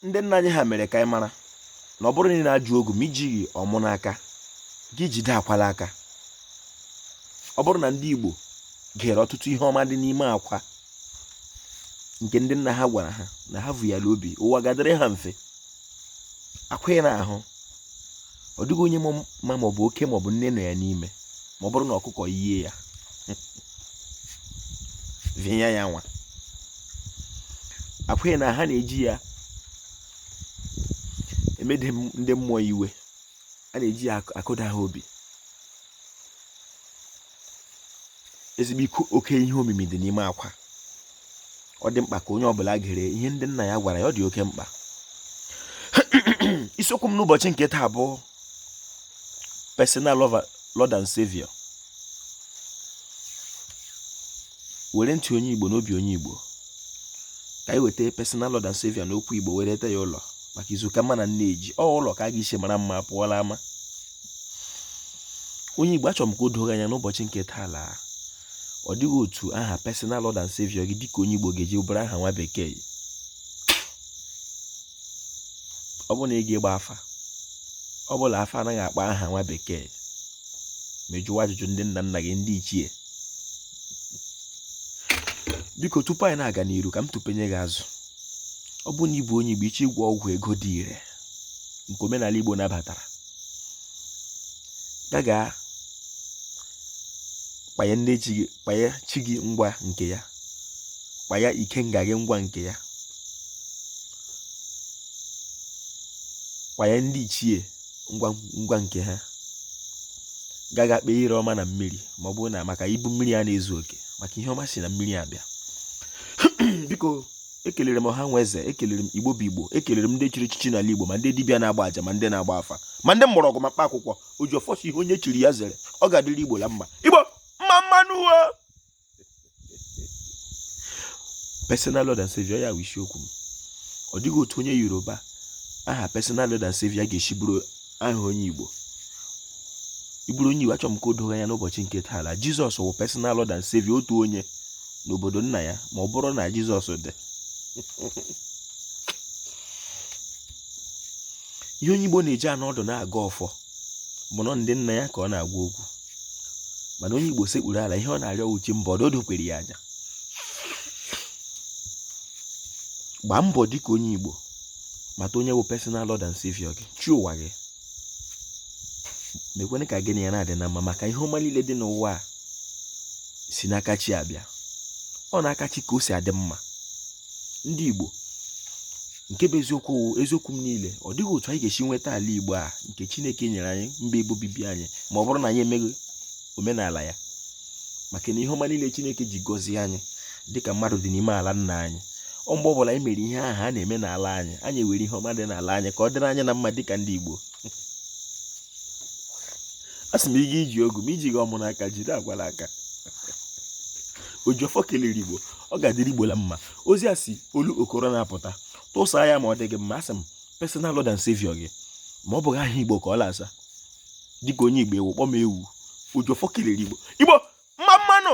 ndị nna anyị ha mere ka anyị mara na ọ bụrụ na ị na-ajụ ogu ma ijighị ọmụ n'aka gị jide akwa la aka ọ bụrụ na ndị Igbo gere ọtụtụ ihe ọma dị n'ime akwa nke ndị nna ha gwara ha na ha vu ya la obi ụwa ga-adịrị ha mfe akwa ị na-ahụ ọ dịghị onye ma ma ọ bụ oke ma ọ bụ nne nọ ya n'ime ma ọ bụrụ na ọkụkọ yie ya vịnya ya nwa akwa ị na-ahụ a na-eji ya emede ndị mmụọ iwe a na-eji ya akụda ha obi ezigbo oke ihe omimi dị n'ime akwa ọ dị mkpa ka onye ọbụla gere ihe ndị nna ya gwara ya ọ dị oke mkpa isiokwu m n'ụbọchị nke taa bụ personal lord and savior were ntị onye igbo na obi onye igbo ka anyị weta personal lord and savior n'okwu igbo werete ya ụlọ maka izu ka mma na nneji ọ ụlọ ka a ga-esi mara mma pụọ la ama onye Igbo achọrọ m ka o doo gị anya n'ụbọchị nke taa laa ọ dịghị otu aha personal Lord and Savior gị dịka onye Igbo ga-eji bụrụ aha nwa bekee ọ bụ na ị gaa gbaa afa ọ bụla afa anaghị akpa aha nwa bekee ma ị jụwa ajụjụ ndị nna nna gị ndị ichie biko tupu anyị na-aga n'iru ka m tụpenye gị azụ ọ bụ na ị bụ onye Igbo ị chọ ịgwọ ọgwụ ego dị ire nke omenala Igbo nabatara gaga kpanye chi gị ngwa nke ya kpanye ikenga gị ngwa nke ya kpanye ndị ichie ngwa nke ha gaga kpee ire ọma na mmiri ma ọ bụ maka ibu mmiri a na-ezu oke maka ihe ọma si na mmiri abịa biko ekelere m ọha nwe eze ekelere m igbo bụ igbo ekelere m ndị chiri echichi n'ala igbo ma ndị dibịa na-agba aja ma ndị na-agba afa ma ndị mgbọrọgwụ ma mkpa akwụkwọ oji ọfọ sị ihe onye chiri ya zere ọ ga-adịrị igbo la mma igbo mma mma nụ wo personal lord and savior ya bụ isiokwu m ọ dịghị otu onye yoruba aha personal lord and savior ga-esi bụrụ aha onye Igbo ị bụrụ onye Igbo achọrọ m ka o doo gị anya n'ụbọchị nke taa la Jizọs wụ personal Lord and Savior otu onye n'obodo nna ya ma ọ bụrụ na Jizọs dị ihe onye Igbo na-eji anọ ọdụ na-agọ ọfọ bụ na ndị nna ya ka ọ na-agwa okwu mana onye Igbo sekpuru ala ihe ọ na-arịọ wụ chi mba ọdọ o dokwere ya anya gbaa mbọ dịka onye Igbo mata onye bụ personal lord and savior gị chi ụwa gị mekwene ka gị na ya na-adị na mma maka ihe ọma niile dị n'ụwa a si n'aka chi abịa ọ n'aka chi ka o si adị mma ndị igbo nke bụ eziokwu m niile ọ dịghị otu anyị ga-esi nweta ala igbo a nke chineke nyere anyị mba ebe obibi anyị ma ọ bụrụ na anyị emeghị omenala ya maka na ihe ọma niile chineke ji gọzie anyị dịka mmadụ dị n'ime ala nna anyị ọ mgbe ọbụla anyị mere ihe ahụ a na-eme n'ala anyị anyị were ihe ọma dị n'ala anyị ka ọ dịrị anyị na mma dịka ndị igbo a sị m ị ga-iji ogu ma i jighị ọmụ n'aka jiri agwa n'aka ojiọfọ kelere igbo ọ ga-adịrị igbo na mma ozi a si olu okoro na-apụta tụsaa ya ma ọ dị gị mma asị m personal lord and savior gị ma ọ bụghị aha igbo ka ọ la-asa dịka onye igbo ị wụ kpọm ewu ojiọfọ kelere igbo igbo mma mma nụ